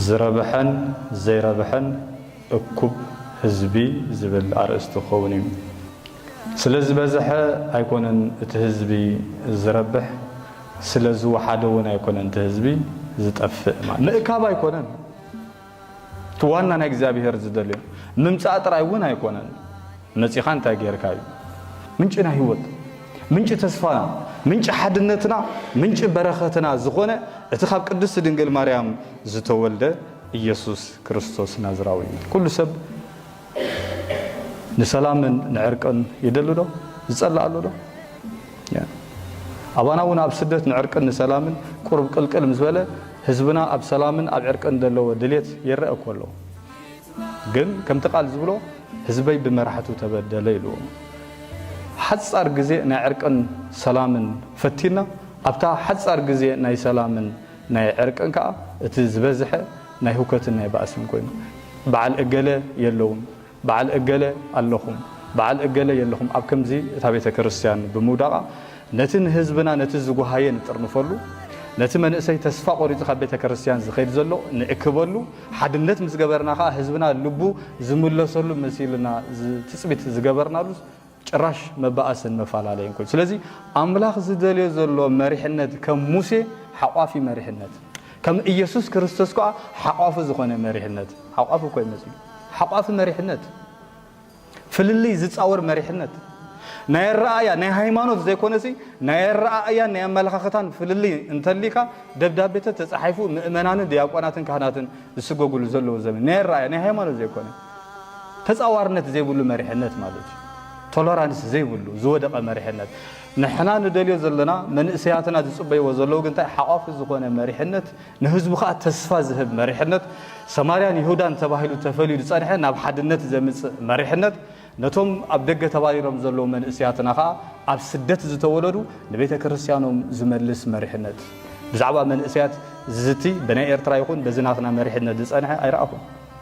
ዝረብሐን ዘይረብሐን እኩብ ህዝቢ ዝብል ኣርእስቲ ክኸውን እዩ። ስለ ዝበዝሐ ኣይኮነን እቲ ህዝቢ ዝረብሕ፣ ስለ ዝወሓደ እውን ኣይኮነን እቲ ህዝቢ ዝጠፍእ ማለት እዩ። ምእካብ ኣይኮነን እቲ ዋና ናይ እግዚኣብሄር ዝደልዮ፣ ምምጻእ ጥራይ እውን ኣይኮነን። መጺኻ እንታይ ጌርካ እዩ ምንጭና ህይወት ምንጪ ተስፋና ምንጪ ሓድነትና ምንጪ በረኸትና ዝኾነ እቲ ካብ ቅድስቲ ድንግል ማርያም ዝተወልደ ኢየሱስ ክርስቶስ ናዝራዊ እዩ። ኩሉ ሰብ ንሰላምን ንዕርቅን ይደሊ ዶ ዝጸልእ ኣሎ ዶ? ኣባና እውን ኣብ ስደት ንዕርቅን ንሰላምን ቁርብ ቅልቅል ምስ በለ ህዝብና ኣብ ሰላምን ኣብ ዕርቅን ዘለዎ ድሌት ይረአ እኮ ኣሎ። ግን ከምቲ ቃል ዝብሎ ህዝበይ ብመራሕቱ ተበደለ ኢልዎም ሓጻር ግዜ ናይ ዕርቅን ሰላምን ፈቲና ኣብታ ሓጻር ግዜ ናይ ሰላምን ናይ ዕርቅን ከኣ እቲ ዝበዝሐ ናይ ሁከትን ናይ ባእስን ኮይኑ በዓል እገለ የለዉን በዓል እገለ ኣለኹም በዓል እገለ የለኹም ኣብ ከምዚ እታ ቤተ ክርስቲያን ብምውዳቓ ነቲ ንህዝብና ነቲ ዝጉሃየ ንጥርንፈሉ ነቲ መንእሰይ ተስፋ ቆሪጹ ካብ ቤተ ክርስቲያን ዝኸይድ ዘሎ ንእክበሉ ሓድነት ምስ ገበርና ከኣ ህዝብና ልቡ ዝምለሰሉ መሲልና ትጽቢት ዝገበርናሉስ ጭራሽ መባኣስን መፈላለይን ኮይኑ። ስለዚ ኣምላኽ ዝደልዮ ዘሎ መሪሕነት ከም ሙሴ ሓቋፊ መሪሕነት፣ ከም እየሱስ ክርስቶስ ከኣ ሓቋፊ ዝኾነ መሪሕነት፣ ሓቋፊ እኮ ይመስል ሓቋፊ መሪሕነት፣ ፍልልይ ዝጻወር መሪሕነት፣ ናይ ኣረኣእያ፣ ናይ ሃይማኖት ዘይኮነሲ ናይ ኣረኣእያን ናይ ኣመለኻኽታን ፍልልይ እንተልይካ ደብዳቤተት ተጻሒፉ ምእመናንን ድያቆናትን ካህናትን ዝስጎግሉ ዘለዉ ዘመን ናይ ኣረኣእያ ናይ ሃይማኖት ዘይኮነ ተጻዋርነት ዘይብሉ መሪሕነት ማለት እዩ። ቶለራንስ ዘይብሉ ዝወደቐ መሪሕነት ንሕና ንደልዮ ዘለና መንእሰያትና ዝጽበይዎ ዘለዉ ግንታይ ሓቋፊ ዝኾነ መሪሕነት ንህዝቡ ከኣ ተስፋ ዝህብ መሪሕነት፣ ሰማርያን ይሁዳን ተባሂሉ ተፈልዩ ዝጸንሐ ናብ ሓድነት ዘምጽእ መሪሕነት፣ ነቶም ኣብ ደገ ተባሪሮም ዘለዉ መንእሰያትና ከኣ ኣብ ስደት ዝተወለዱ ንቤተ ክርስትያኖም ዝመልስ መሪሕነት። ብዛዕባ መንእሰያት ዝዝቲ ብናይ ኤርትራ ይኹን በዚ ናትና መሪሕነት ዝጸንሐ ኣይረኣኹን።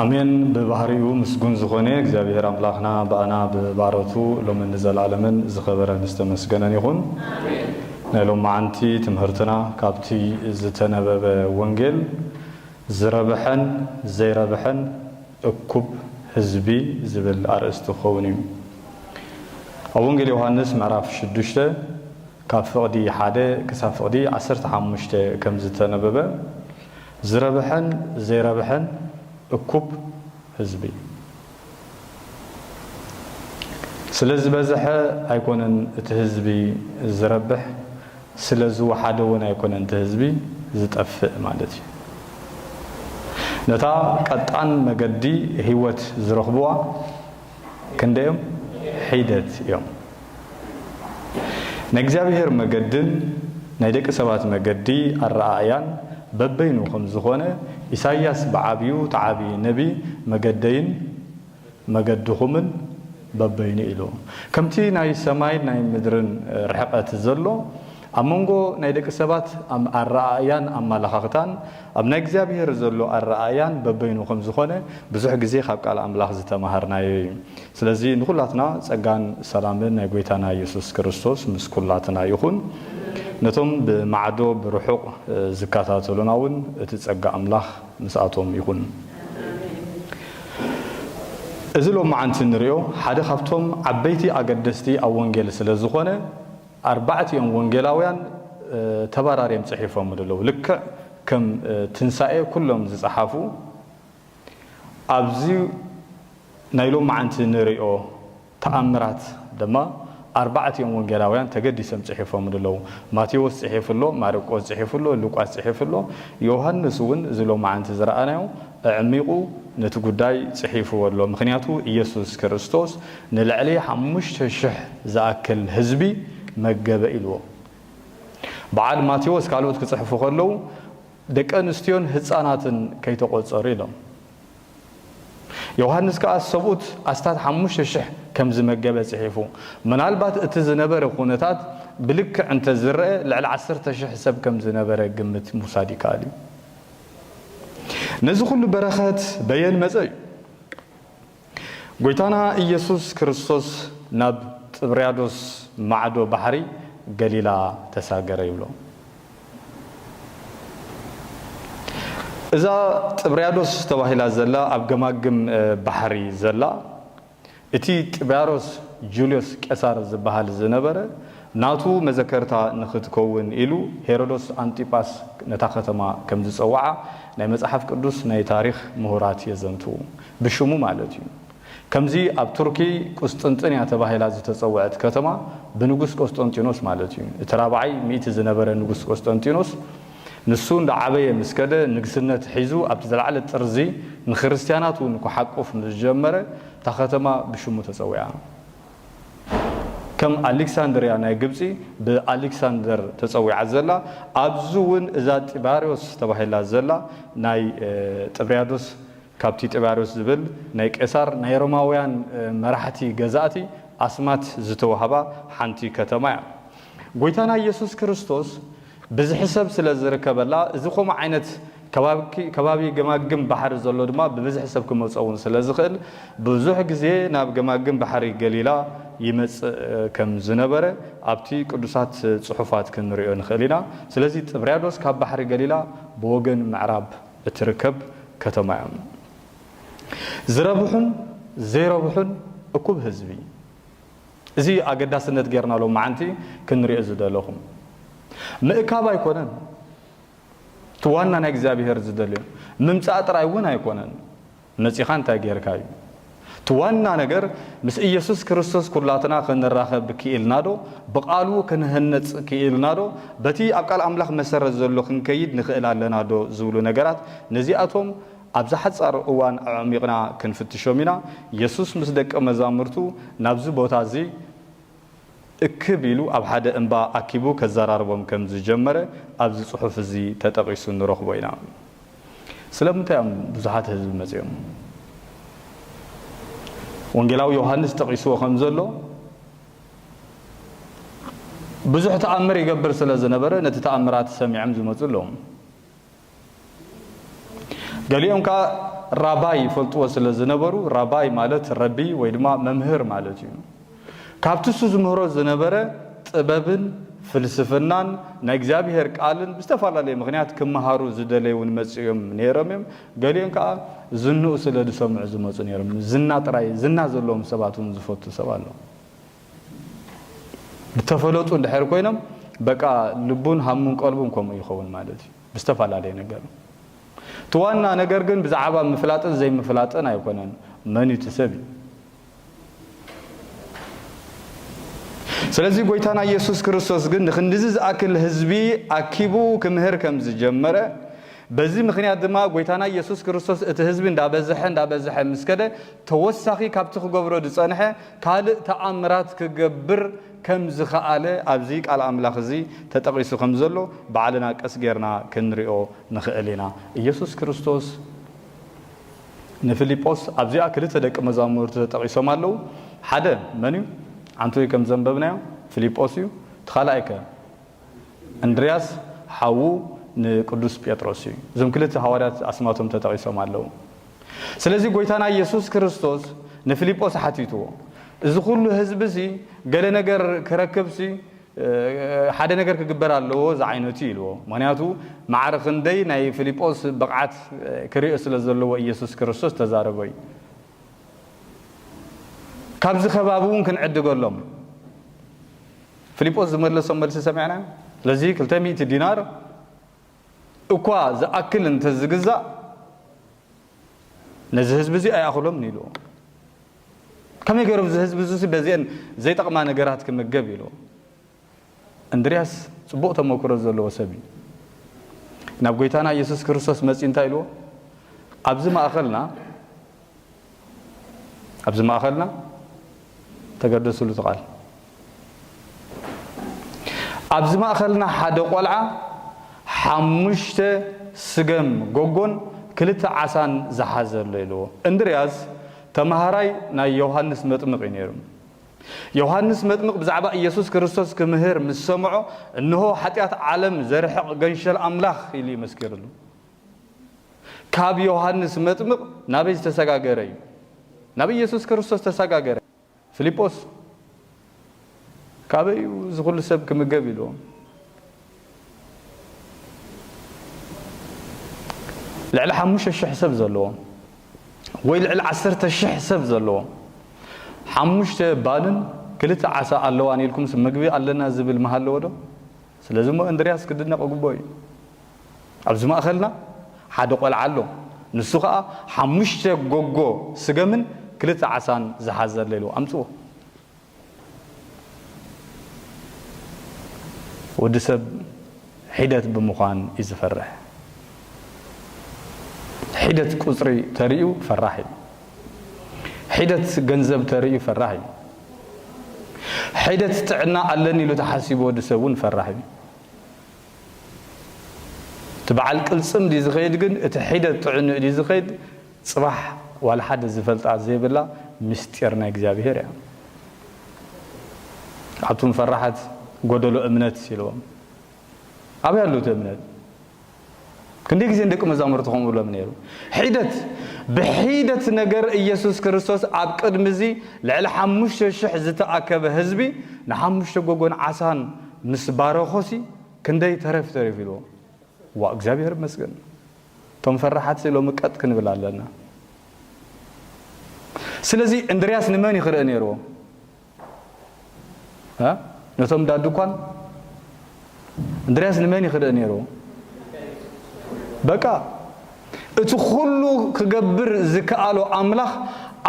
ኣሜን ብባህሪኡ ምስጉን ዝኾነ እግዚኣብሔር ኣምላኽና ብኣና ብባሮቱ ሎምን ንዘልኣለምን ዝኸበረን ዝተመስገነን ይኹን። ናይ ሎምዓንቲ ትምህርትና ካብቲ ዝተነበበ ወንጌል ዝረብሐን ዘይረብሐን እኩብ ህዝቢ ዝብል ኣርእስቲ ክኸውን እዩ። ኣብ ወንጌል ዮሃንስ ምዕራፍ ሽዱሽተ ካብ ፍቕዲ ሓደ ክሳብ ፍቕዲ ዓሰርተ ሓሙሽተ ከም ዝተነበበ፣ ዝረብሐን ዘይረብሐን እኩብ ህዝቢ ስለ ዝበዝሐ ኣይኮነን እቲ ህዝቢ ዝረብሕ፣ ስለ ዝወሓደ'ውን ኣይኮነን እቲ ህዝቢ ዝጠፍእ ማለት እዩ። ነታ ቀጣን መገዲ ህይወት ዝረኽቡዋ፣ ክንደዮም ሒደት እዮም። ናይ እግዚኣብሔር መገድን ናይ ደቂ ሰባት መገዲ ኣረኣእያን በበይኑ ከም ዝኾነ ኢሳይያስ ብዓብዩ ተዓቢ ነቢ መገደይን መገድኹምን በበይኑ ኢሉ። ከምቲ ናይ ሰማይን ናይ ምድርን ርሕቐት ዘሎ ኣብ መንጎ ናይ ደቂ ሰባት ኣም ኣረኣእያን ኣመላኻኽታን ኣብ ናይ እግዚኣብሄር ዘሎ ኣረኣእያን በበይኑ ከም ዝኾነ ብዙሕ ግዜ ካብ ቃል ኣምላኽ ዝተመሃርናዮ እዩ። ስለዚ ንኹላትና ጸጋን ሰላምን ናይ ጎይታና የሱስ ክርስቶስ ምስ ኩላትና ይኹን። ነቶም ብማዕዶ ብርሑቕ ዝከታተሉና እውን እቲ ጸጋ ኣምላኽ ምስኣቶም ይኹን። እዚ ሎምዓንቲ እንርእዮ ሓደ ካብቶም ዓበይቲ ኣገደስቲ ኣብ ወንጌል ስለ ዝኾነ፣ ኣርባዕቲኦም ወንጌላውያን ተበራርዮም ጽሒፎምሉ ኣለዉ። ልክዕ ከም ትንሳኤ ኩሎም ዝጸሓፉ ኣብዚ ናይ ሎምዓንቲ ንርእዮ ተኣምራት ድማ ኣርባዕቲኦም ወንጌላውያን ተገዲሶም ጽሒፎምሉ ኣለዉ። ማቴዎስ ጽሒፉ ኣሎ፣ ማርቆስ ጽሒፉ ኣሎ፣ ሉቃስ ጽሒፉ ኣሎ፣ ዮሃንስ እውን እዚ ሎምዓንቲ ዝረኣናዮ ኣዕሚቑ ነቲ ጉዳይ ጽሒፉዎ ኣሎ። ምኽንያቱ ኢየሱስ ክርስቶስ ንልዕሊ ሓሙሽተ ሽሕ ዝኣክል ህዝቢ መገበ ኢልዎ። በዓል ማቴዎስ ካልኦት ክጽሕፉ ከለዉ ደቂ ኣንስትዮን ህጻናትን ከይተቖጸሩ ኢሎም። ዮሃንስ ከኣ ሰብኡት ኣስታት ሓሙሽተ ሽሕ ከም ዝመገበ ጽሒፉ። ምናልባት እቲ ዝነበረ ኩነታት ብልክዕ እንተ ዝረኣ ልዕሊ ዓሰርተ ሽሕ ሰብ ከም ዝነበረ ግምት ምውሳድ ይከኣል እዩ። ነዚ ኹሉ በረኸት በየን መጸ እዩ? ጐይታና ኢየሱስ ክርስቶስ ናብ ጥብርያዶስ ማዕዶ ባሕሪ ገሊላ ተሳገረ ይብሎ። እዛ ጥብርያዶስ ተባሂላ ዘላ ኣብ ገማግም ባሕሪ ዘላ እቲ ጥብያሮስ ጁልዮስ ቄሳር ዝበሃል ዝነበረ ናቱ መዘከርታ ንኽትከውን ኢሉ ሄሮዶስ ኣንጢጳስ ነታ ከተማ ከም ዝጸውዓ ናይ መጽሓፍ ቅዱስ ናይ ታሪኽ ምሁራት የዘንትዉ። ብሽሙ ማለት እዩ። ከምዚ ኣብ ቱርኪ ቍስጥንጥንያ ተባሂላ ዝተጸውዐት ከተማ ብንጉስ ቆስጠንጢኖስ ማለት እዩ፣ እቲ ራብዓይ ሚእቲ ዝነበረ ንጉስ ቆስጠንጢኖስ፣ ንሱ እንዳዓበየ ምስ ከደ ንግስነት ሒዙ ኣብቲ ዝለዓለ ጥርዚ ንክርስትያናት እውን ክሓቍፍ ምስ ጀመረ እታ ከተማ ብሽሙ ተጸዊዓ። ከም ኣሊክሳንድርያ ናይ ግብጺ ብኣሊክሳንደር ተጸዊዓ ዘላ፣ ኣብዚ እውን እዛ ጢባርዮስ ተባሂላ ዘላ ናይ ጥብርያዶስ ካብ ቲጢባርዮስ ዝብል ናይ ቄሳር ናይ ሮማውያን መራሕቲ ገዛእቲ ኣስማት ዝተዋህባ ሓንቲ ከተማ እያ። ጎይታና ኢየሱስ ክርስቶስ ብዝሒ ሰብ ስለ ዝርከበላ እዚ ኮምኡ ዓይነት ከባቢ ገማግም ባሕሪ ዘሎ ድማ ብብዝሒ ሰብ ክመጾ ውን ስለ ዝኽእል ብዙሕ ግዜ ናብ ገማግም ባሕሪ ገሊላ ይመጽእ ከም ዝነበረ ኣብቲ ቅዱሳት ጽሑፋት ክንሪኦ ንኽእል ኢና። ስለዚ ጥብርያዶስ ካብ ባሕሪ ገሊላ ብወገን ምዕራብ። እትርከብ ከተማ እያ። ዝረብሑን ዘይረብሑን እኩብ ህዝቢ። እዚ እዩ ኣገዳስነት ጌርና ሎምዓንቲ ክንሪኦ ዝደለኹ። ምእካብ ኣይኮነን እቲ ዋና ናይ እግዚኣብሄር ዝደልዮ። ምምጻእ ጥራይ እውን ኣይኮነን። መጺኻ እንታይ ጌርካ እዩ እቲ ዋና ነገር ምስ ኢየሱስ ክርስቶስ ኩላትና ክንራኸብ ክኢልናዶ ብቃሉ ክንህነጽ ክኢልናዶ በቲ ኣብ ቃል ኣምላኽ መሰረት ዘሎ ክንከይድ ንኽእል ኣለናዶ ዝብሉ ነገራት ነዚኣቶም ኣብዛ ሓጻር እዋን ኣዕሚቕና ክንፍትሾም ኢና የሱስ ምስ ደቀ መዛሙርቱ ናብዚ ቦታ እዚ እክብ ኢሉ ኣብ ሓደ እምባ ኣኪቡ ከዘራርቦም ከም ዝጀመረ ኣብዚ ጽሑፍ እዚ ተጠቒሱ ንረኽቦ ኢና። ስለምንታይ እዮም ብዙሓት ህዝቢ መጺኦም? ወንጌላዊ ዮሃንስ ጠቒስዎ ከም ዘሎ ብዙሕ ተኣምር ይገብር ስለ ዝነበረ ነቲ ተኣምራት ሰሚዖም ዝመጹ ኣለዉ። ገሊኦም ከኣ ራባይ ይፈልጥዎ ስለ ዝነበሩ ራባይ ማለት ረቢ ወይ ድማ መምህር ማለት እዩ። ካብቲ እሱ ዝምህሮ ዝነበረ ጥበብን ፍልስፍናን ናይ እግዚኣብሄር ቃልን ብዝተፈላለየ ምኽንያት ክመሃሩ ዝደለዩ እውን መጺኡ እዮም ነይሮም እዮም። ገሊኦም ከኣ ዝንኡ ስለ ዝሰምዑ ዝመጹ ነይሮም። ዝና ጥራይ ዝና ዘለዎም ሰባት እውን ዝፈቱ ሰብ ኣሎ። ዝተፈለጡ እንድሕር ኮይኖም በቃ ልቡን ሃሙን ቀልቡን ከምኡ ይኸውን ማለት እዩ ብዝተፈላለየ ነገር እቲ ዋና ነገር ግን ብዛዕባ ምፍላጥን ዘይምፍላጥን ኣይኮነን መን እቲ ሰብ እዩ ስለዚ ጎይታና ኢየሱስ ክርስቶስ ግን ንክንድዚ ዝኣክል ህዝቢ ኣኪቡ ክምህር ከም ዝጀመረ በዚ ምክንያት ድማ ጎይታና ኢየሱስ ክርስቶስ እቲ ህዝቢ እንዳበዝሐ እንዳበዝሐ ምስ ከደ ተወሳኺ ካብቲ ክገብሮ ዝጸንሐ ካልእ ተኣምራት ክገብር ከም ዝኸኣለ ኣብዚ ቃል ኣምላኽ እዚ ተጠቒሱ ከም ዘሎ ባዕልና ቀስ ጌርና ክንሪኦ ንኽእል ኢና። ኢየሱስ ክርስቶስ ንፊልጶስ ኣብዚኣ ክልተ ደቂ መዛሙርቱ ተጠቒሶም ኣለዉ። ሓደ መን እዩ? ዓንተወይ ከም ዘንበብናዮ ፊልጶስ እዩ። እቲ ካልኣይከ? እንድርያስ ሓዉ ንቅዱስ ጴጥሮስ እዩ። እዞም ክልተ ሃዋርያት ኣስማቶም ተጠቒሶም ኣለዉ። ስለዚ ጐይታና ኢየሱስ ክርስቶስ ንፊልጶስ ሓቲትዎ፣ እዚ ዅሉ ህዝቢ'ሲ ገለ ነገር ክረክብሲ ሓደ ነገር ክግበር ኣለዎ ዝዓይነቱ ኢልዎ። ምኽንያቱ ማዕረ ክንደይ ናይ ፊልጶስ ብቕዓት ክርእ ስለ ዘለዎ ኢየሱስ ክርስቶስ ዝተዛረቦ እዩ። ካብዚ ከባቢ'ውን ክንዕድገሎም። ፍሊጶስ ዝመለሶ መልሲ ሰሚዕናዮ። ስለዚ ክልተ ሚእቲ ዲናር እኳ ዝኣክል እንተ ዝግዛእ ነዚ ህዝቢ እዚ ኣይኣኽሎምን ኢሉ። ከመይ ገይሩ እዚ ህዝቢ እዚሲ በዚአን ዘይጠቕማ ነገራት ክምገብ ኢሉ። እንድርያስ ጽቡቕ ተመክሮ ዘለዎ ሰብ እዩ። ናብ ጎይታና ኢየሱስ ክርስቶስ መጺኡ እንታይ ኢልዎ? ኣብዚ ማእኸልና ኣብዚ ማእኸልና ተገደስሉ እቲ ቃል። ኣብዚ ማእኸልና ሓደ ቆልዓ ሓሙሽተ ስገም ጎጎን ክልተ ዓሳን ዝሓዘ ኣሎ ኢልዎ። እንድርያስ ተማሃራይ ናይ ዮሃንስ መጥምቕ እዩ ነይሩ። ዮሃንስ መጥምቕ ብዛዕባ ኢየሱስ ክርስቶስ ክምህር ምስ ሰምዖ እንሆ ሓጢኣት ዓለም ዘርሕቕ ገንሸል ኣምላኽ ኢሉ እዩ መስኪርሉ። ካብ ዮሃንስ መጥምቕ ናበይ ዝተሰጋገረ እዩ? ናብ ኢየሱስ ክርስቶስ ተሰጋገረ። ፊልጶስ ካበይ እዩ እዚ ኩሉ ሰብ ክምገብ ኢልዎ። ልዕሊ ሓሙሽተ ሽሕ ሰብ ዘለዎ ወይ ልዕሊ ዓሰርተ ሽሕ ሰብ ዘለዎ ሓሙሽተ ባልን ክልተ ዓሳ ኣለዋን ኢልኩምስ ምግቢ ኣለና ዝብል ምሃለዎ ዶ? ስለዚ እሞ እንድርያስ ክድነቕ እግብኦ እዩ። ኣብዚ ማእከልና ሓደ ቆልዓ ኣሎ፣ ንሱ ከኣ ሓሙሽተ ጎጎ ስገምን ክልተ ዓሳን ዝሓዘ ኣሎ ኢሉ ኣምጽዎ። ወዲ ሰብ ሒደት ብምዃን እዩ ዝፈርሕ። ሒደት ቁጽሪ ተሪኡ ፈራሕ እዩ። ሒደት ገንዘብ ተርእዩ ፈራሕ እዩ። ሒደት ጥዕና ኣለኒ ኢሉ ተሓሲቡ ወዲ ሰብ እውን ፈራሕ እዩ። እቲ በዓል ቅልፅም ድዩ ዝኸይድ ግን እቲ ሒደት ጥዕንኡ ድዩ ዝኸይድ ፅባሕ ዋላ ሓደ ዝፈልጣ ዘይብላ ምስጢር ናይ እግዚኣብሔር እያ። ኣቱም ፈራሓት ጎደሎ እምነት ኢልዎም ኣበይ ኣሎ እቲ እምነት? ክንደይ ግዜ ንደቂ መዛሙርቱ ከምኡ ይብሎም ነይሩ? ሒደት ብሒደት ነገር ኢየሱስ ክርስቶስ ኣብ ቅድሚ እዚ ልዕሊ ሓሙሽተ ሽሕ ዝተኣከበ ህዝቢ ንሓሙሽተ ጎጎን ዓሳን ምስ ባረኾሲ ክንደይ ተረፍ ተሪፉ ኢልዎም። ዋእ እግዚኣብሔር ይመስገን እቶም ፈራሓትሲ ሎሚ ቀጥ ክንብል ኣለና። ስለዚ እንድርያስ ንመን እዩ ክርኢ ነይርዎ? ነቶም እንዳ ድኳን እንድርያስ ንመን ይክደእ ነይሩ በቃ እቲ ኩሉ ክገብር ዝከኣሎ ኣምላኽ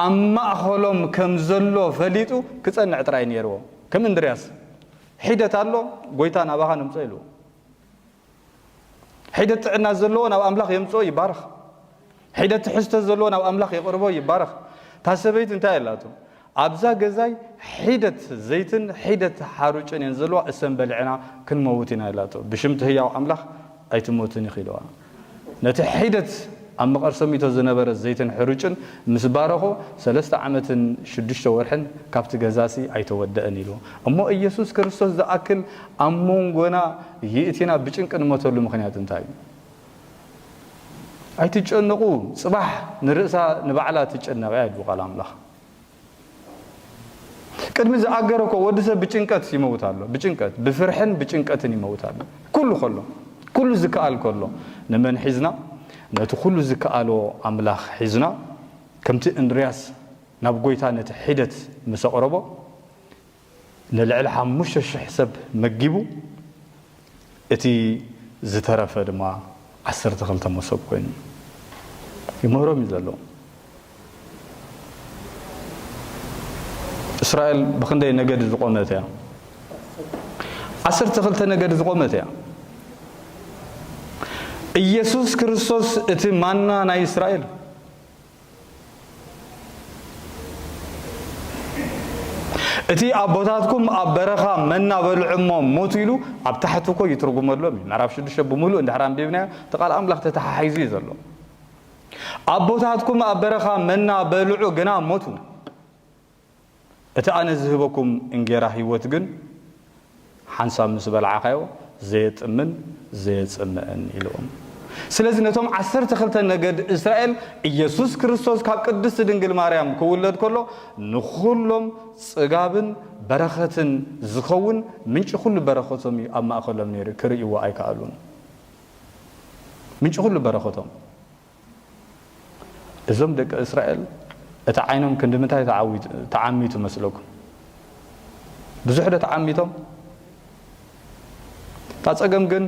ኣብ ማእኸሎም ከም ዘሎ ፈሊጡ ክጸንዕ ጥራይ ነይርዎ ከም እንድርያስ ሒደት ኣሎ ጎይታ ናባኻ ንምጸ ኢልዎ ሒደት ጥዕና ዘለዎ ናብ ኣምላኽ የምጽኦ ይባረኽ። ሒደት ትሕዝቶ ዘለዎ ናብ ኣምላኽ የቕርቦ ይባረኽ። እታ ሰበይቲ እንታይ ኣላቶ? ኣብዛ ገዛይ ሒደት ዘይትን ሒደት ሓሩጭን እየን ዘለዋ እሰን በሊዕና ክንመውት ኢና ኢላቶ። ብሽምቲ ህያው ኣምላኽ ኣይትሞትን ኢኺ ኢልዋ። ነቲ ሒደት ኣብ መቐርሰሚቶ ዝነበረ ዘይትን ሕሩጭን ምስ ባረኾ፣ ሰለስተ ዓመትን ሽዱሽተ ወርሕን ካብቲ ገዛሲ ኣይተወደእን ኢሉ። እሞ ኢየሱስ ክርስቶስ ዝኣክል ኣብ ሞንጎና ይእቲና ብጭንቂ ንሞተሉ ምኽንያት እንታይ እዩ? ኣይትጨነቑ፣ ጽባሕ ንርእሳ ንባዕላ ትጨነቕ እያ ይብሉ ቃል ኣምላኽ። ቅድሚ ዝኣገረ እኮ ወዲ ሰብ ብጭንቀት ይመውት ኣሎ ብጭንቀት ብፍርሕን ብጭንቀትን ይመውት ኣሎ ኩሉ ከሎ ኩሉ ዝከኣል ከሎ ንመን ሒዝና ነቲ ኩሉ ዝከኣሎ ኣምላኽ ሒዝና ከምቲ እንድርያስ ናብ ጎይታ ነቲ ሒደት ምስ ኣቕረቦ ንልዕሊ ሓሙሽተ ሽሕ ሰብ መጊቡ፣ እቲ ዝተረፈ ድማ ዓሰርተ ክልተ መሶብ ኮይኑ ይምህሮም እዩ ዘሎ። እስራኤል ብኽንደይ ነገድ ዝቖመት እያ? ዓሰርተ ክልተ ነገድ ዝቖመት እያ። ኢየሱስ ክርስቶስ እቲ ማና ናይ እስራኤል እቲ ኣቦታትኩም ኣብ በረኻ መና በልዑ እሞ ሞቱ ኢሉ ኣብ ታሕቲ እኮ ይትርጉመሎም እዩ ምዕራፍ ሽዱሽተ ብምሉእ እንድሕር ኣንቢብናዮ እቲ ቃል ኣምላኽ ተተሓሒዙ እዩ ዘሎ ኣቦታትኩም ኣብ በረኻ መና በልዑ ግና ሞቱ እቲ ኣነ ዝህበኩም እንጌራ ህይወት ግን ሓንሳብ ምስ በላዕኻዮ ዘየጥምን ዘየጽምእን ኢሉዎም። ስለዚ ነቶም ዓሰርተ ክልተ ነገድ እስራኤል ኢየሱስ ክርስቶስ ካብ ቅድስቲ ድንግል ማርያም ክውለድ ከሎ ንኹሎም ጽጋብን በረኸትን ዝኸውን ምንጪ ኩሉ በረኸቶም እዩ ኣብ ማእከሎም ነይሩ ክርእይዎ ኣይከኣሉን። ምንጪ ኩሉ በረኸቶም። እዞም ደቂ እስራኤል እቲ ዓይኖም ክንዲ ምንታይ ተዓሚቱ መስለኩም? ብዙሕ ዶ ተዓሚቶም? እታ ጸገም ግን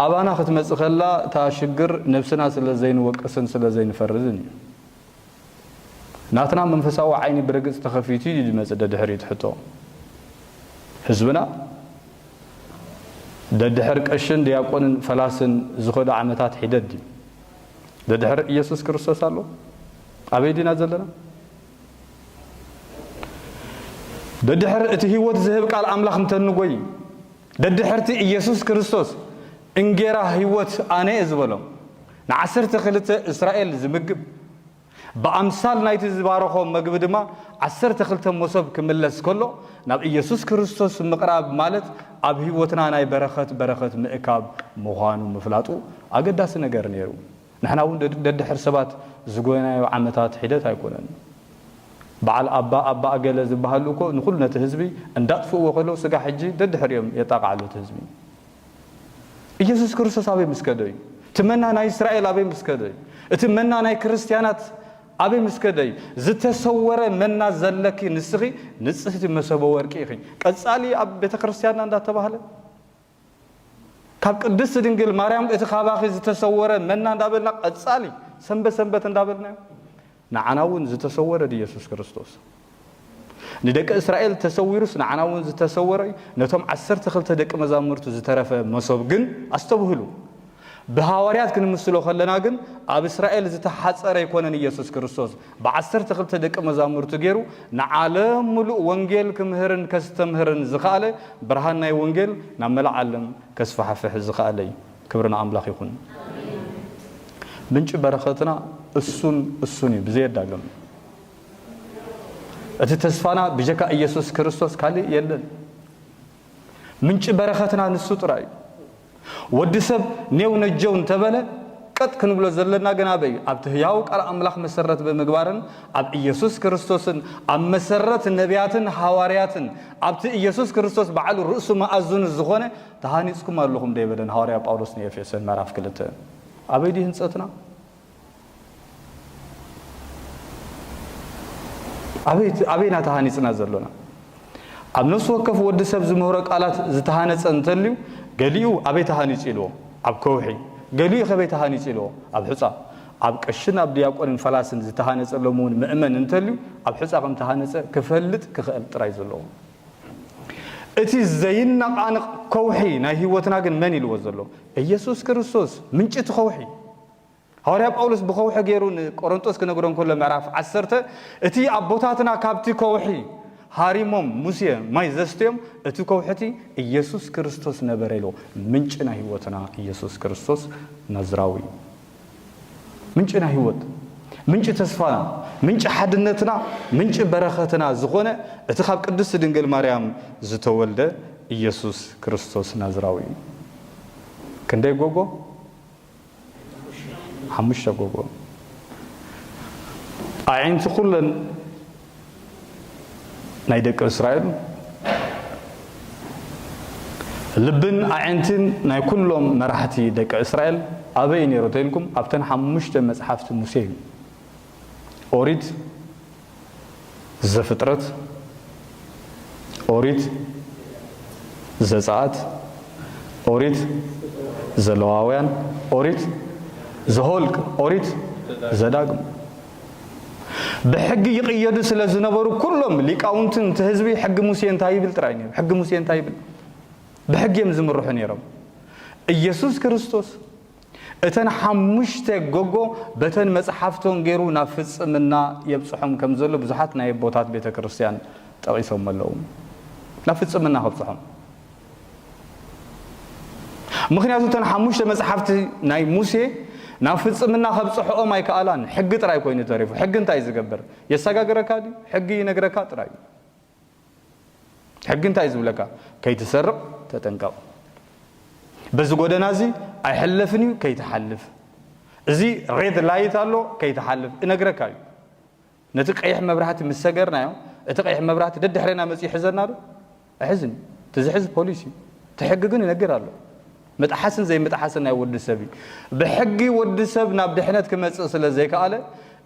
ኣባና ክትመጽእ ከላ እታ ሽግር ነብስና ስለ ዘይንወቅስን ስለ ዘይንፈርድን እዩ። ናትና መንፈሳዊ ዓይኒ ብርግጽ ተኸፊቱ እዩ ዝመጽእ ደድሕሪ እቲ ሕቶ ህዝብና ደድሕር ቀሽን ዲያቆንን ፈላስን ዝኸዱ ዓመታት ሒደት ድዩ ደድሕር ኢየሱስ ክርስቶስ ኣሎ ኣበይ ዲና ዘለና ደድሕር እቲ ህይወት ዝህብ ቃል ኣምላኽ እንተንጎይ ደድሕርቲ ኢየሱስ ክርስቶስ እንጌራ ሕይወት ኣነ'የ ዝበሎም ንዓሰርተ ክልተ እስራኤል ዝምግብ፣ ብኣምሳል ናይ'ቲ ዝባረኾም መግቢ ድማ ዓሰርተ ክልተ ሞሶብ ክምለስ ከሎ ናብ ኢየሱስ ክርስቶስ ምቕራብ ማለት ኣብ ሕይወትና ናይ በረኸት በረኸት ምእካብ ምዃኑ ምፍላጡ ኣገዳሲ ነገር ነይሩ። ንሕና እውን ደድሕሪ ሰባት ዝጎየናዮ ዓመታት ሒደት ኣይኮነን። በዓል ኣባ ኣባ ኣገለ ዝበሃሉ እኮ ንኹሉ ነቲ ህዝቢ እንዳጥፍእዎ ከለው ስጋዕ ሕጂ ደድሕሪኦም የጣቕዓሉ እቲ ህዝቢ። ኢየሱስ ክርስቶስ ኣበይ ምስ ከደ እዩ? እቲ መና ናይ እስራኤል ኣበይ ምስ ከደ እዩ? እቲ መና ናይ ክርስትያናት ኣበይ ምስ ከደ እዩ? ዝተሰወረ መና ዘለኪ ንስኺ ንጽህቲ መሰቦ ወርቂ ኢኺ። ቀጻሊ ኣብ ቤተ ክርስትያንና እንዳተባህለ ካብ ቅድስቲ ድንግል ማርያም እቲ ካባኺ ዝተሰወረ መና እንዳበልና ቀጻሊ ሰንበት ሰንበት እንዳበልናዮ ንዓና እውን ዝተሰወረ ድዩ የሱስ ክርስቶስ ንደቂ እስራኤል ተሰዊሩስ ንዓና እውን ዝተሰወረ እዩ ነቶም ዓሰርተ ክልተ ደቂ መዛሙርቱ ዝተረፈ መሶብ ግን ኣስተብህሉ ብሃዋርያት ክንምስሎ ከለና ግን ኣብ እስራኤል ዝተሓጸረ ኣይኮነን ኢየሱስ ክርስቶስ ብዓሰርተ ክልተ ደቀ መዛሙርቱ ጌሩ ንዓለም ምሉእ ወንጌል ክምህርን ከስተምህርን ዝኸኣለ ብርሃን ናይ ወንጌል ናብ መላእ ዓለም ከስፋሕፍሕ ዝኸኣለ እዩ ክብሪ ንኣምላኽ ይኹን ምንጪ በረኸትና እሱን እሱን እዩ ብዘየዳግም እቲ ተስፋና ብጀካ ኢየሱስ ክርስቶስ ካልእ የለን ምንጪ በረኸትና ንሱ ጥራይ እዩ ወዲ ሰብ ኔው ነጀው እንተበለ፣ ቀጥ ክንብሎ ዘለና ግን ኣበይ እዩ? ኣብቲ ህያው ቃል ኣምላኽ መሰረት ብምግባርን ኣብ ኢየሱስ ክርስቶስን ኣብ መሰረት ነብያትን ሃዋርያትን ኣብቲ ኢየሱስ ክርስቶስ ባዕሉ ርእሱ መኣዝኑ ዝኾነ ተሃኒጽኩም ኣለኹም ዶ ኣይበለን ሃዋርያ ጳውሎስ ንኤፌሶን ምዕራፍ ክልተ ኣበይ ድዩ ህንጸትና? ኣበይ ኣበይ ኢና ተሃኒጽና ዘሎና? ኣብ ነፍሲ ወከፍ ወዲ ሰብ ዝምህሮ ቃላት ዝተሃነጸ እንተልዩ ገሊኡ ኣበይ ተሃኒጹ ኢልዎ ኣብ ከውሒ ገሊኡ ከበይ ተሃኒጹ ኢልዎ ኣብ ሑጻ ኣብ ቀሽን ኣብ ድያቆንን ፈላስን ዝተሃነጸ ሎሚ እውን ምእመን እንተልዩ ኣብ ሑጻ ከም ተሃነጸ ክፈልጥ ክኽእል ጥራይ ዘለዎ እቲ ዘይነቓንቕ ከውሒ ናይ ህይወትና ግን መን ኢልዎ ዘሎ ኢየሱስ ክርስቶስ ምንጭ እቲ ከውሒ ሃዋርያ ጳውሎስ ብኸውሒ ገይሩ ንቈረንጦስ ክነግሮ እንከሎ ምዕራፍ ዓሰርተ እቲ ኣቦታትና ካብቲ ከውሒ ሃሪሞም ሙሴ ማይ ዘስትዮም እቲ ከውሒ እቲ ኢየሱስ ክርስቶስ ነበረ ኢሉ ምንጪ ናይ ህይወትና ኢየሱስ ክርስቶስ ናዝራዊ እዩ ምንጭና ህይወት ምንጭ ተስፋና ምንጭ ሓድነትና ምንጭ በረኸትና ዝኾነ እቲ ካብ ቅድስቲ ድንግል ማርያም ዝተወልደ ኢየሱስ ክርስቶስ ናዝራዊ እዩ ክንደይ ጎጎ ሓሙሽተ ጎቦ ኣዒንቲ ኩለን ናይ ደቂ እስራኤል ልብን ኣዒንትን ናይ ኩሎም መራሕቲ ደቂ እስራኤል ኣበይ ነይሩ ተኢልኩም ኣብተን ሓሙሽተ መጽሓፍቲ ሙሴ እዩ ኦሪት ዘፍጥረት፣ ኦሪት ዘጸኣት፣ ኦሪት ዘለዋውያን፣ ኦሪት ዘሆልቅ፣ ኦሪት ዘዳግም ብሕጊ ይቕየዱ ስለ ዝነበሩ ኩሎም ሊቃውንትን እቲ ህዝቢ ሕጊ ሙሴ እንታይ ይብል ጥራይ ነይሩ ሕጊ ሙሴ እንታይ ይብል ብሕጊ እዮም ዝምርሑ ነይሮም ኢየሱስ ክርስቶስ እተን ሓሙሽተ ጎጎ በተን መጽሓፍቶን ገይሩ ናብ ፍጽምና የብጽሖም ከም ዘሎ ብዙሓት ናይ ኣቦታት ቤተ ክርስቲያን ጠቒሶሞ ኣለዉ። ናብ ፍጽምና ከብጽሖም ምክንያቱ እተን ሓሙሽተ መጽሓፍቲ ናይ ሙሴ ናብ ፍጽምና ከብጽሕኦም ኣይከኣላን። ሕጊ ጥራይ ኮይኑ ተሪፉ። ሕጊ እንታይ ዝገብር የሰጋግረካ ድዩ? ሕጊ ይነግረካ ጥራይ እዩ። ሕጊ እንታይ እዩ ዝብለካ? ከይትሰርቕ ተጠንቀቕ፣ በዚ ጎደና እዚ ኣይሕለፍን እዩ ከይትሓልፍ፣ እዚ ሬድ ላይት ኣሎ ከይትሓልፍ እነግረካ እዩ። ነቲ ቀይሕ መብራህቲ ምስ ሰገርናዮ እቲ ቀይሕ መብራህቲ ደድሕሬና መፅኡ ይሕዘና ዶ? ኣይሕዝን እዩ። እቲ ዝሕዝ ፖሊስ እዩ። እቲ ሕጊ ግን ይነግር ኣሎ። ምጥሓስን ዘይምጥሓስን ናይ ወዲ ሰብ እዩ። ብሕጊ ወዲ ሰብ ናብ ድሕነት ክመጽእ ስለ ዘይከኣለ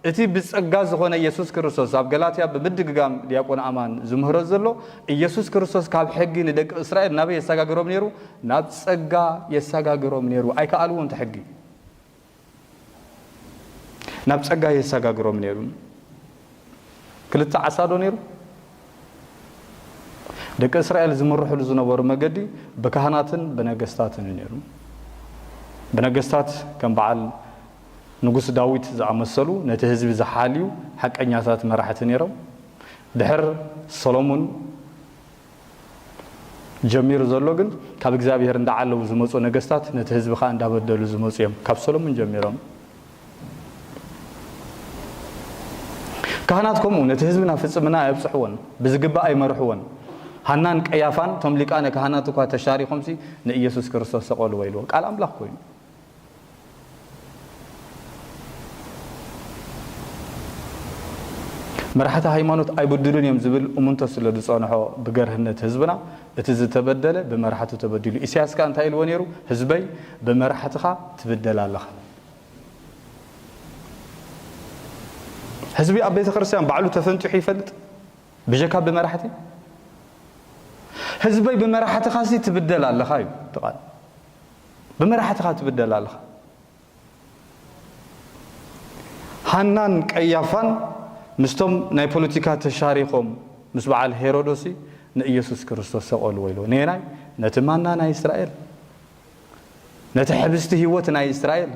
እቲ ብጸጋ ዝኾነ ኢየሱስ ክርስቶስ ኣብ ገላትያ ብምድግጋም ዲያቆን ኣማን ዝምህሮ ዘሎ ኢየሱስ ክርስቶስ ካብ ሕጊ ንደቂ እስራኤል ናበይ የሰጋግሮም ነይሩ ናብ ጸጋ የሰጋግሮም ነይሩ ኣይከኣልዎን እቲ ሕጊ ናብ ጸጋ የሳጋግሮም ነይሩ። ክልተ ዓሳ ዶ ነይሩ? ደቂ እስራኤል ዝምርሕሉ ዝነበሩ መገዲ ብካህናትን ብነገስታትን እዩ ነይሩ። ብነገስታት ከም በዓል ንጉስ ዳዊት ዝኣመሰሉ ነቲ ህዝቢ ዝሓልዩ ሓቀኛታት መራሕቲ ነይሮም። ድሕር ሰሎሙን ጀሚሩ ዘሎ ግን ካብ እግዚኣብሔር እንዳዓለዉ ዝመጹ ነገስታት ነቲ ህዝቢ ከኣ እንዳበደሉ ዝመጹ እዮም ካብ ሰሎሙን ጀሚሮም ካህናት ከምኡ ነቲ ህዝቢ ናብ ፍጽምና ኣየብጽሕዎን ብዝግባእ ኣይመርሕዎን ሃናን ቀያፋን እቶም ሊቃነ ካህናት እኳ ተሻሪኾምሲ ንኢየሱስ ክርስቶስ ሰቐልዎ ኢልዎ ቃል ኣምላኽ ኮይኑ መራሕቲ ሃይማኖት ኣይብድሉን እዮም ዝብል እሙንቶ ስለ ዝጸንሖ ብገርህነት ህዝብና እቲ ዝተበደለ ብመራሕቱ ተበዲሉ ኢሳያስ ከኣ እንታይ ኢልዎ ነይሩ ህዝበይ ብመራሕትኻ ትብደል ኣለኻ ህዝቢ ኣብ ቤተ ክርስቲያን ባዕሉ ተፈንጢሑ ይፈልጥ ብጀካ ብመራሕቲ ህዝበይ ብመራሕትኻሲ ትብደል ኣለኻ እዩ ትቓል ብመራሕትኻ ትብደል ኣለኻ። ሃናን ቀያፋን ምስቶም ናይ ፖለቲካ ተሻሪኾም ምስ በዓል ሄሮዶሲ ንኢየሱስ ክርስቶስ ሰቐልዎ ኢልዎ። ነየናይ? ነቲ ማና ናይ እስራኤል፣ ነቲ ሕብስቲ ህይወት ናይ እስራኤል፣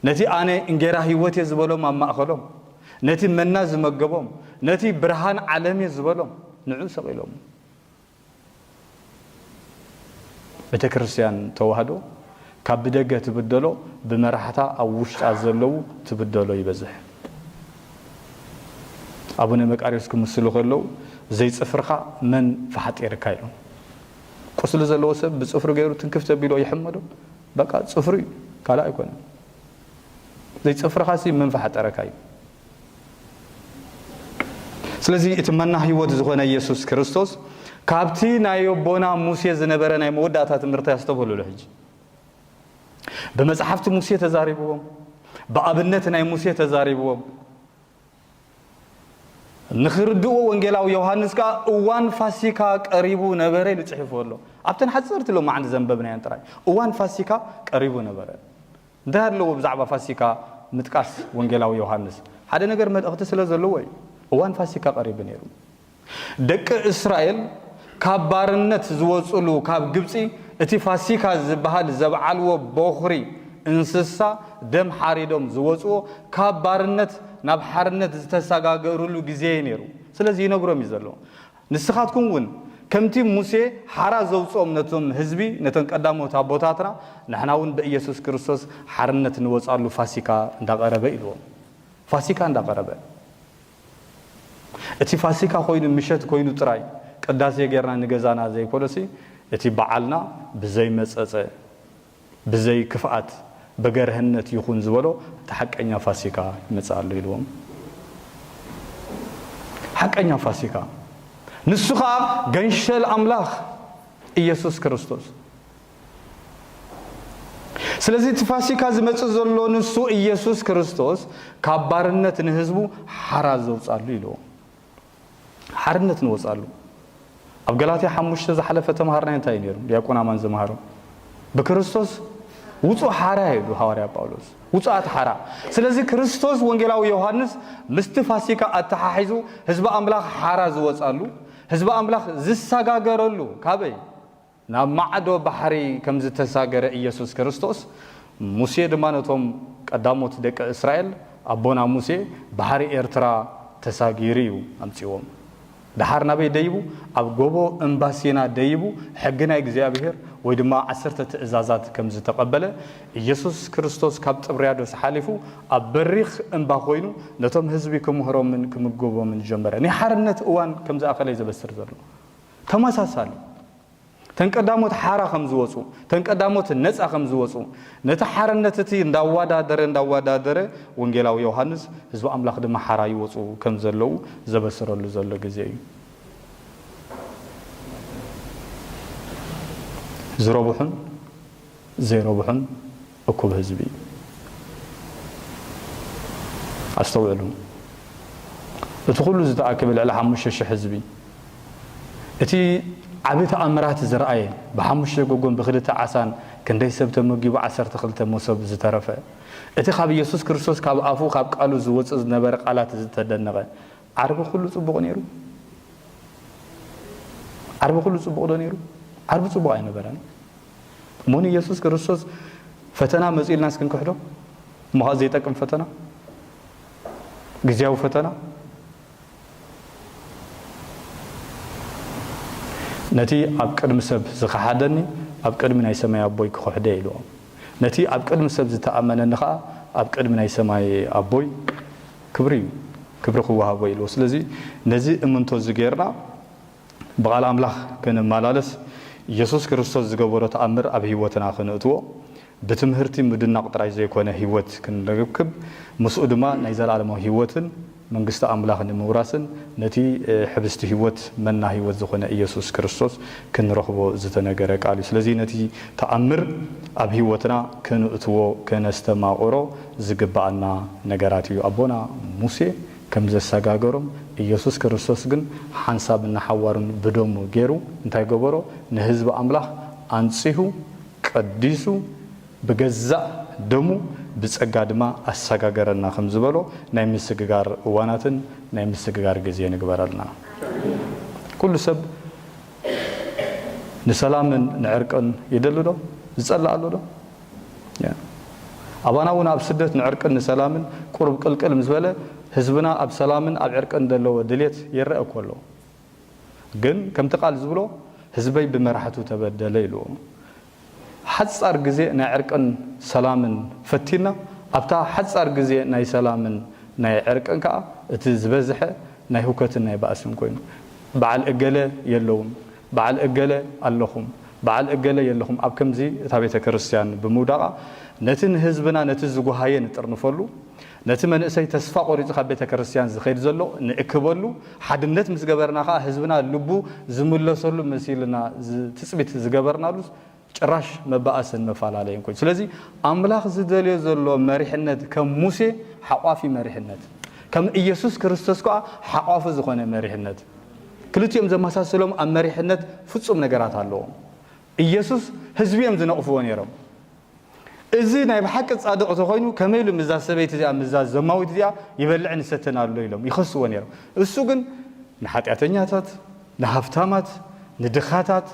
ነቲ ኣነ እንጌራ ህይወት እየ ዝበሎም ኣብ ማእኸሎም፣ ነቲ መና ዝመገቦም፣ ነቲ ብርሃን ዓለም እየ ዝበሎም ንዑ ሰቒሎሞ። ቤተክርስትያን ተዋህዶ ካብ ብደገ ትብደሎ ብመራሕታ ኣብ ውሽጣ ዘለው ትብደሎ ይበዝሕ። ኣቡነ መቃርዮስ ክምስሉ ከለው ዘይጽፍርካ መን ፈሓጢርካ ኢሎም። ቁስሊ ዘለዎ ሰብ ብጽፍሩ ገይሩ ትንክፍ ተቢሎ ይሕመዶ? በቃ ጽፍሩ እዩ ካልእ ኣይኮነን። ዘይጽፍርኻሲ መን ፈሓጠረካ እዩ። ስለዚ እቲ መና ህይወት ዝኾነ ኢየሱስ ክርስቶስ ካብቲ ናይ ኣቦና ሙሴ ዝነበረ ናይ መወዳእታ ትምህርቲ ኣስተብህሉሉ ሕጂ ብመጽሓፍቲ ሙሴ ተዛሪብዎም ብኣብነት ናይ ሙሴ ተዛሪብዎም ንኽርድኡ ወንጌላዊ ዮሃንስ ከዓ እዋን ፋሲካ ቀሪቡ ነበረ ኢሉ ጽሒፉ ኣሎ ኣብተን ሓፀርቲ ሎማዓንቲ ዘንበብናየን ጥራይ እዋን ፋሲካ ቀሪቡ ነበረ እንታይ ኣሎዎ ብዛዕባ ፋሲካ ምጥቃስ ወንጌላዊ ዮሃንስ? ሓደ ነገር መልእኽቲ ስለ ዘሎዎ እዩ። እዋን ፋሲካ ቀሪቡ ነይሩ። ደቂ እስራኤል ካብ ባርነት ዝወጽእሉ ካብ ግብጺ እቲ ፋሲካ ዝበሃል ዘብዓልዎ ቦኽሪ እንስሳ ደም ሓሪዶም ዝወጽዎ ካብ ባርነት ናብ ሓርነት ዝተሰጋገሩሉ ግዜ እዩ ነይሩ። ስለዚ ይነግሮም እዩ ዘሎ። ንስኻትኩም ውን ከምቲ ሙሴ ሓራ ዘውጽኦም ነቶም ህዝቢ ነተን ቀዳሞት ኣቦታትና ንሕና ውን በኢየሱስ ክርስቶስ ሓርነት ንወጻሉ ፋሲካ እንዳቀረበ ኢልዎም ፋሲካ እንዳቀረበ እቲ ፋሲካ ኮይኑ ምሸት ኮይኑ ጥራይ ቅዳሴ ጌርና ንገዛና ዘይኮነሲ እቲ በዓልና ብዘይመጸጸ ብዘይ ክፍኣት ብገርሀነት ይኹን ዝበሎ እቲ ሓቀኛ ፋሲካ ይመጽእ ኣሎ ኢልዎም። ሓቀኛ ፋሲካ ንሱ ኸኣ ገንሸል ኣምላኽ ኢየሱስ ክርስቶስ። ስለዚ እቲ ፋሲካ ዝመጽእ ዘሎ ንሱ ኢየሱስ ክርስቶስ ካብ ባርነት ንህዝቡ ሓራ ዘውጻሉ ኢልዎም። ሓርነት ንወጽኣሉ። ኣብ ገላትያ ሓሙሽተ ዝሓለፈ ተማሃርናዮ እንታይ እዩ ነይሩ ድያቆን ኣማን ዝመሃሮ? ብክርስቶስ ውጹእ ሓራ ኢሉ ሃዋርያ ጳውሎስ። ውጹኣት ሓራ። ስለዚ ክርስቶስ ወንጌላዊ ዮሃንስ ምስቲ ፋሲካ ኣተሓሒዙ ህዝቢ ኣምላኽ ሓራ ዝወጽኣሉ፣ ህዝቢ ኣምላኽ ዝሰጋገረሉ፣ ካበይ? ናብ ማዕዶ ባሕሪ ከም ዝተሳገረ ኢየሱስ ክርስቶስ፣ ሙሴ ድማ ነቶም ቀዳሞት ደቂ እስራኤል፣ ኣቦና ሙሴ፣ ባሕሪ ኤርትራ ተሳጊሩ እዩ ኣምጺእዎም። ደሓር ናበይ ደይቡ? ኣብ ጎቦ እምባ ሲና ደይቡ ሕጊ ናይ እግዚኣብሔር ወይ ድማ ዓሰርተ ትእዛዛት ከም ዝተቐበለ፣ ኢየሱስ ክርስቶስ ካብ ጥብርያዶስ ሓሊፉ ኣብ በሪኽ እምባ ኮይኑ ነቶም ሕዝቢ ክምህሮምን ክምግቦምን ጀመረ። ናይ ሓርነት እዋን ከም ዝኣኸለ እዩ ዘበስር ዘሎ። ተመሳሳሊ፣ እተን ቀዳሞት ሓራ ከም ዝወጹ፣ እተን ቀዳሞት ነጻ ከም ዝወጹ፣ ነቲ ሓርነት እቲ እንዳዋዳደረ እንዳዋዳደረ ወንጌላዊ ዮሃንስ ህዝቢ ኣምላኽ ድማ ሓራ ይወጹ ከም ዘለዉ ዘበስረሉ ዘሎ ግዜ እዩ። ዝረብሑን። ዘይረብሑን እኩብ ህዝቢ እዩ። ኣስተውዕሉ እቲ ኩሉ ዝተኣከበ ልዕሊ ሓሙሽተ ሽሕ ህዝቢ እቲ ዓቢ ተኣምራት ዝርኣየ ብሓሙሽተ ጎጎን ብክልተ ዓሳን ክንደይ ሰብ ተመጊቡ ዓሰርተ ክልተ ሞሶብ ዝተረፈ እቲ ካብ ኢየሱስ ክርስቶስ ካብ ኣፉ ካብ ቃሉ ዝወጽእ ዝነበረ ቃላት ዝተደነቐ ዓርቢ ኩሉ ጽቡቕ ኔሩ? ዓርቢ ኩሉ ጽቡቕ ዶ ኔሩ? ዓርቢ ጽቡቕ ኣይነበረን። እሞ ንየሱስ ክርስቶስ ፈተና መጽኡ ኢልናስ ክንክሕዶ? እሞ ኸኣ ዘይጠቅም ፈተና፣ ግዝያዊ ፈተና፣ ነቲ ኣብ ቅድሚ ሰብ ዝኸሓደኒ ኣብ ቅድሚ ናይ ሰማይ ኣቦይ ክኽሕዶ እየ ኢልዎም። ነቲ ኣብ ቅድሚ ሰብ ዝተኣመነኒ ኸኣ ኣብ ቅድሚ ናይ ሰማይ ኣቦይ ክብሪ እዩ ክብሪ ክወሃቦ ኢልዎ ስለዚ ነዚ እምንቶ እዚ ጌርና ብቓል ኣምላኽ ክንመላለስ ኢየሱስ ክርስቶስ ዝገበሮ ተኣምር ኣብ ሕይወትና ክነእትዎ ብትምህርቲ ምድናቕ ጥራይ ዘይኮነ ሕይወት ክንረክብ ምስኡ ድማ ናይ ዘለዓለማዊ ሕይወትን መንግስቲ ኣምላኽ ንምውራስን ነቲ ሕብስቲ ሕይወት መና ሕይወት ዝኾነ ኢየሱስ ክርስቶስ ክንረኽቦ ዝተነገረ ቃል እዩ ስለዚ ነቲ ተኣምር ኣብ ሕይወትና ክንእትዎ ከነስተማቕሮ ዝግብኣና ነገራት እዩ። ኣቦና ሙሴ ከም ዘሰጋገሮም፣ ኢየሱስ ክርስቶስ ግን ሓንሳብን ንሓዋሩን ብደሙ ገይሩ እንታይ ገበሮ? ንህዝቢ ኣምላኽ ኣንጺሁ፣ ቀዲሱ፣ ብገዛእ ደሙ ብጸጋ ድማ ኣሰጋገረና ከም ዝበሎ ናይ ምስግጋር እዋናትን ናይ ምስግጋር ግዜ ንግበረልና። ኩሉ ሰብ ንሰላምን ንዕርቅን ይደሊ ዶ? ዝጸልእ ኣሎ ዶ? ኣባና እውን ኣብ ስደት ንዕርቅን ንሰላምን ቁሩብ ቅልቅል ምስ በለ ህዝብና ኣብ ሰላምን ኣብ ዕርቅን ዘለዎ ድሌት ይረኣ እኮ ኣሎ። ግን ከምቲ ቃል ዝብሎ ህዝበይ ብመራሕቱ ተበደለ ኢሉ እሞ ሓፃር ግዜ ናይ ዕርቅን ሰላምን ፈቲና ኣብታ ሓፃር ግዜ ናይ ሰላምን ናይ ዕርቅን ከዓ እቲ ዝበዝሐ ናይ ሁከትን ናይ ባእስን ኮይኑ በዓል እገለ የለዉን በዓል እገለ ኣለኹም በዓል እገለ የለኹም ኣብ ከምዚ እታ ቤተ ክርስቲያን ብምውዳቓ ነቲ ንህዝብና ነቲ ዝጎሃየ ንጥርንፈሉ ነቲ መንእሰይ ተስፋ ቆሪጹ ካብ ቤተ ክርስቲያን ዝኸይድ ዘሎ ንእክበሉ ሓድነት ምስ ገበርና ከኣ ህዝብና ልቡ ዝምለሰሉ መሲልና ትጽቢት ዝገበርናሉስ ጭራሽ መባኣስን መፋላለይን ኮይኑ ስለዚ ኣምላኽ ዝደልዮ ዘሎ መሪሕነት ከም ሙሴ ሓቋፊ መሪሕነት ከም እየሱስ ክርስቶስ ከኣ ሓቋፊ ዝኾነ መሪሕነት ክልቲኦም ዘመሳስሎም ኣብ መሪሕነት ፍጹም ነገራት ኣለዎም እየሱስ ህዝቢ እዮም ዝነቕፍዎ ነይሮም እዚ ናይ ብሓቂ ጻድቕ ተኾይኑ ከመይ ኢሉ ምዛ ሰበይቲ እዚኣ ምዛ ዘማዊት እዚኣ ይበልዕን ይሰትን ኣሎ ኢሎም ይኸስዎ ነይሮም እሱ ግን ንሓጢኣተኛታት ንሃብታማት፣ ንድኻታት፣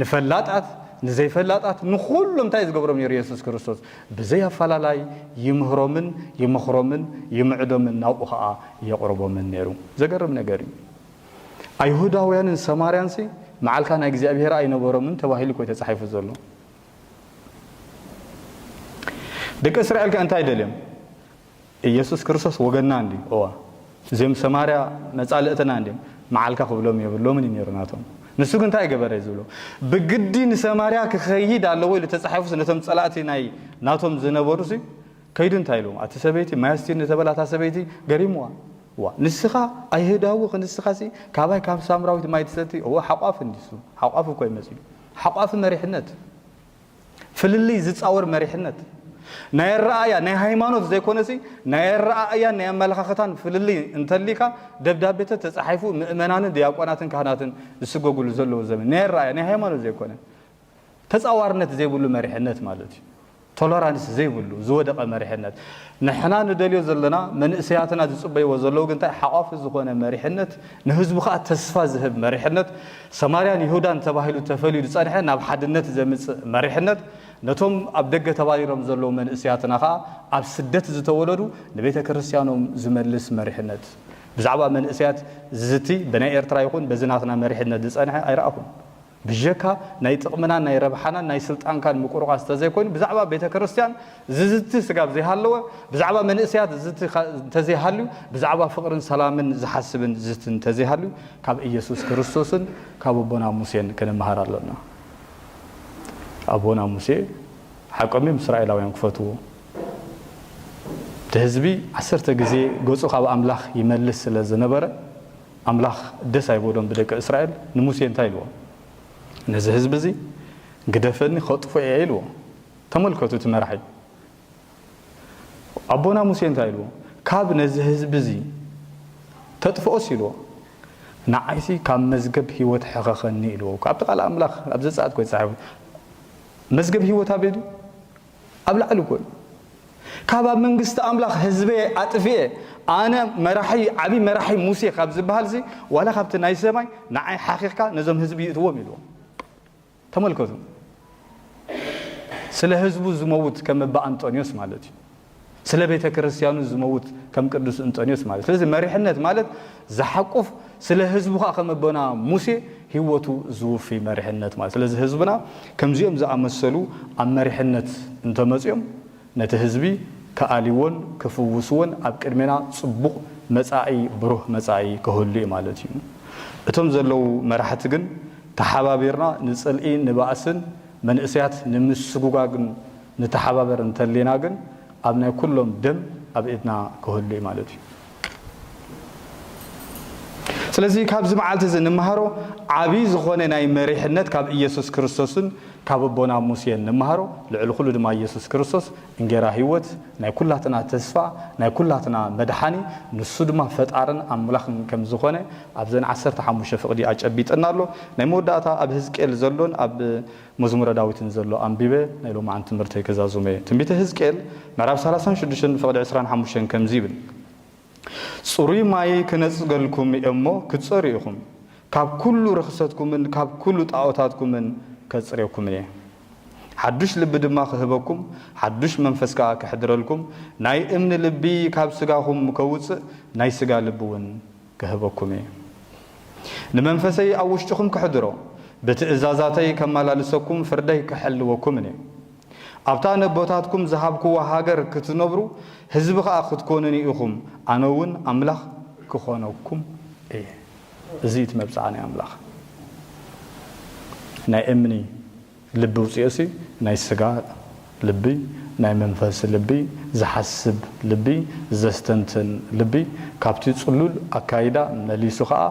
ንፈላጣት፣ ንዘይፈላጣት፣ ንኹሎም እንታይ እዩ ዝገብሮም ነይሩ የሱስ ክርስቶስ? ብዘይ ኣፈላላይ ይምህሮምን ይመኽሮምን ይምዕዶምን ናብኡ ኸኣ የቕርቦምን ነይሩ። ዘገርም ነገር እዩ። ኣይሁዳውያንን ሰማርያንሲ መዓልካ ናይ እግዚኣብሄር ኣይነበሮምን ተባሂሉ እኮ እዩ ተጻሒፉ ዘሎ። ደቂ እስራኤል ከ እንታይ ደልዮም? ኢየሱስ ክርስቶስ ወገንና እንድዩ እወ እዚኦም ሰማርያ መጻልእትና እንድዮም መዓልካ ክብሎም የብሎምን እዩ ነይሩ ናቶም ንሱ ግን እንታይ ገበረ እዩ ዝብሎ ብግዲ ንሰማርያ ክኸይድ ኣለዎ ኢሉ ተጻሒፉስ ነቶም ጸላእቲ ናይ ናቶም ዝነበሩ ሲ ከይዱ እንታይ ኢሉ ኣቲ ሰበይቲ ማይ ኣስትዩኒ ተበላ እታ ሰበይቲ ገሪምዋ ዋ ንስኻ ኣይህዳዊ ክንስኻ ሲ ካባይ ካብ ሳምራዊት ማይ ትሰቲ እወ ሓቋፍ እንዲሱ ሓቋፍ እኮ ይመጽዩ ሓቋፍ መሪሕነት ፍልልይ ዝጻወር መሪሕነት፣ ናይ ኣረኣእያ፣ ናይ ሃይማኖት ዘይኮነሲ ናይ ኣረኣእያን ናይ ኣመለኻኽታን ፍልልይ እንተልይካ ደብዳቤተት ተጻሒፉ ምእመናንን ድያቆናትን ካህናትን ዝስጎግሉ ዘለዎ ዘመን ናይ ኣረኣእያ ናይ ሃይማኖት ዘይኮነ ተጻዋርነት ዘይብሉ መሪሕነት ማለት እዩ። ቶለራንስ ዘይብሉ ዝወደቐ መሪሕነት ንሕና ንደልዮ ዘለና መንእሰያትና ዝጽበይዎ ዘለዉ ግንታይ ሓቋፊ ዝኾነ መሪሕነት ንህዝቡ ከኣ ተስፋ ዝህብ መሪሕነት፣ ሰማርያን ይሁዳን ተባሂሉ ተፈልዩ ዝጸንሐ ናብ ሓድነት ዘምጽእ መሪሕነት፣ ነቶም ኣብ ደገ ተባሪሮም ዘለዉ መንእሰያትና ከኣ ኣብ ስደት ዝተወለዱ ንቤተ ክርስትያኖም ዝመልስ መሪሕነት። ብዛዕባ መንእሰያት ዝዝቲ ብናይ ኤርትራ ይኹን በዚ ናትና መሪሕነት ዝጸንሐ ኣይረኣኹን። ብጀካ ናይ ጥቕምናን ናይ ረብሓናን ናይ ስልጣንካን ምቁርቋስ ተዘይኮይኑ ብዛዕባ ቤተ ክርስቲያን ዝዝቲ ስጋብ ዘይሃለወ ብዛዕባ መንእሰያት ዝዝቲ እንተዘይሃልዩ ብዛዕባ ፍቕርን ሰላምን ዝሓስብን ዝዝቲ እንተዘይሃልዩ ካብ ኢየሱስ ክርስቶስን ካብ ኣቦና ሙሴን ክንመሃር ኣሎና። ኣቦና ሙሴ ሓቆም እዮም እስራኤላውያን ክፈትዎ እቲ ህዝቢ ዓሰርተ ግዜ ገጹ ካብ ኣምላኽ ይመልስ ስለ ዝነበረ ኣምላኽ ደስ ኣይበሎን ብደቂ እስራኤል፣ ንሙሴ እንታይ ኢልዎ? ነዚ ህዝቢ እዚ ግደፈኒ ከጥፍኦ እየ ኢልዎ። ተመልከቱ እቲ መራሒ ኣቦና ሙሴ እንታይ ኢልዎ? ካብ ነዚ ህዝቢ እዚ ተጥፍኦስ ኢልዎ ንዓይሲ ካብ መዝገብ ህይወት ሕኸኸኒ ኢልዎ እኮ ኣብቲ ቃል ኣምላኽ ኣብ ዘጸኣት ኮይት ጸሓፉ መዝገብ ህይወት ኣበይ ድዩ? ኣብ ላዕሊ እኮ እዩ ካብ ኣብ መንግስቲ ኣምላኽ ህዝበየ ኣጥፍኤ ኣነ መራሒ ዓብይ መራሒ ሙሴ ካብ ዝበሃልዚ ዋላ ካብቲ ናይ ሰማይ ንዓይ ሓኺኽካ ነዞም ህዝቢ ይእትዎም ኢልዎም ተመልከቱ ስለ ህዝቡ ዝመውት ከም እባ ኣንጦንዮስ ማለት እዩ ስለ ቤተ ክርስትያኑ ዝመውት ከም ቅዱስ እንጦንዮስ ማለት ስለዚ መሪሕነት ማለት ዝሓቁፍ ስለ ህዝቡ ከኣ ከም ኣቦና ሙሴ ህይወቱ ዝውፊ መሪሕነት ማለት ስለዚ ህዝብና ከምዚኦም ዝኣመሰሉ ኣብ መሪሕነት እንተመጽዮም ነቲ ህዝቢ ክኣልይዎን ክፍውስዎን ኣብ ቅድሜና ጽቡቕ መጻኢ ብሩህ መጻኢ ክህሉ እዩ ማለት እዩ እቶም ዘለዉ መራሕቲ ግን ተሓባቢርና ንጽልኢ ንባእስን መንእሰያት ንምስጉጋግ ንተሓባበር እንተሊና ግን ኣብ ናይ ኩሎም ደም ኣብ ኢድና ክህሉ እዩ ማለት እዩ። ስለዚ ካብዚ መዓልቲ እዚ ንመሃሮ ዓቢ ዝኾነ ናይ መሪሕነት ካብ ኢየሱስ ክርስቶስን ካብ ኣቦና ሙሴን ንመሃሮ ልዕሊ ኩሉ ድማ ኢየሱስ ክርስቶስ እንጌራ ሕይወት ናይ ኩላትና ተስፋ ናይ ኩላትና መድሓኒ ንሱ ድማ ፈጣርን ኣምላኽን ከም ዝኾነ ኣብዘን ዓሰርተ ሓሙሽተ ፍቕዲ ኣጨቢጥና ኣሎ። ናይ መወዳእታ ኣብ ህዝቅኤል ዘሎን ኣብ መዝሙረ ዳዊትን ዘሎ ኣንቢበ ናይ ሎማዕንቲ ትምህርተይ ክዛዙም እየ። ትንቢተ ህዝቅኤል ምዕራፍ ሰላሳን ሽዱሽተን ፍቕዲ ዕስራን ሓሙሽተን ከምዚ ይብል ጽሩይ ማይ ክነጽገልኩም እየ'ሞ ክትጸርዩ ኢኹም፣ ካብ ኩሉ ርኽሰትኩምን ካብ ኩሉ ጣኦታትኩምን ከጽርየኩም እየ። ሓዱሽ ልቢ ድማ ኽህበኩም፣ ሓዱሽ መንፈስ ከኣ ከሕድረልኩም፣ ናይ እምኒ ልቢ ካብ ስጋኹም ከውጽእ፣ ናይ ስጋ ልቢውን ክህበኩም እየ። ንመንፈሰይ ኣብ ውሽጥኹም ከሕድሮ፣ ብትእዛዛተይ ከመላልሰኩም፣ ፍርደይ ክሕልወኩምን እየ። ኣብታ ነቦታትኩም ዝሃብኩዋ ሃገር ክትነብሩ፣ ህዝቢ ኸኣ ክትኮኑኒ ኢኹም፣ ኣነውን ኣምላኽ ክኾነኩም እየ። እዚ እቲ መብጽዓ ናይ ኣምላኽ ናይ እምኒ ልቢ ውጽኦሲ ናይ ስጋ ልቢ ናይ መንፈስ ልቢ ዝሓስብ ልቢ ዘስተንትን ልቢ ካብቲ ጽሉል ኣካይዳ መሊሱ ከኣ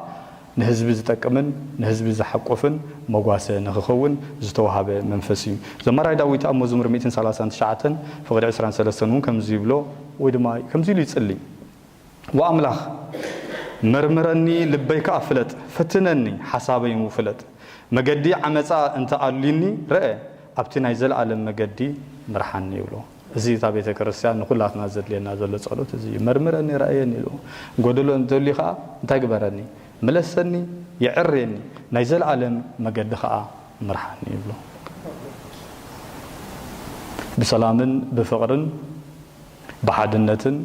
ንህዝቢ ዝጠቅምን ንህዝቢ ዘሓቁፍን መጓሰ ንኽኸውን ዝተዋህበ መንፈስ እዩ ዘማራይ ዳዊት ኣብ መዝሙር ሚእትን ሰላሳን ትሽዓተን ፍቅዲ ዕስራን ሰለስተን እውን ከምዚ ይብሎ ወይ ድማ ከምዚ ኢሉ ይጽሊ ወኣምላኽ መርምረኒ ልበይ ከኣ ፍለጥ፣ ፍትነኒ ሓሳበይንው ፍለጥ፣ መገዲ ዓመጻ እንተ ኣልዩኒ ረእ፣ ኣብቲ ናይ ዘለኣለም መገዲ ምርሓኒ ይብሎ። እዚ እታ ቤተ ክርስቲያን ንኹላትና ዘድልየና ዘሎ ጸሎት እዚ እዩ። መርምረኒ ረኣየኒ ኢሉ ጎደሎ እንተልዩ ከኣ እንታይ ግበረኒ ምለሰኒ የዕርየኒ ናይ ዘለኣለም መገዲ ከኣ ምርሓኒ ይብሎ። ብሰላምን ብፍቕርን ብሓድነትን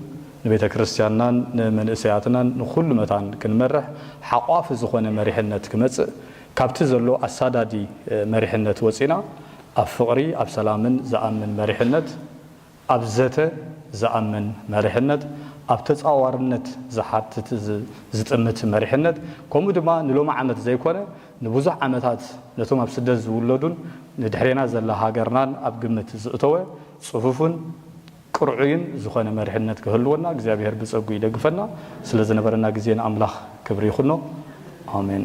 ንቤተ ክርስቲያንናን ንመንእሰያትናን ንኹሉ መታን ክንመርሕ ሓቋፊ ዝኾነ መሪሕነት ክመጽእ ካብቲ ዘሎ ኣሳዳዲ መሪሕነት ወጺና ኣብ ፍቕሪ ኣብ ሰላምን ዝኣምን መሪሕነት ኣብ ዘተ ዝኣምን መሪሕነት ኣብ ተጻዋርነት ዝሓትት ዝጥምት መሪሕነት ከምኡ ድማ ንሎሚ ዓመት ዘይኮነ ንብዙሕ ዓመታት ነቶም ኣብ ስደት ዝውለዱን ንድሕሬና ዘላ ሃገርናን ኣብ ግምት ዝእተወ ጽፉፍን ቅርዑይን ዝኾነ መሪሕነት ክህልወና እግዚኣብሄር ብጸግኡ ይደግፈና። ስለ ዝነበረና ግዜ ንኣምላኽ ክብሪ ይኹኖ። ኣሜን።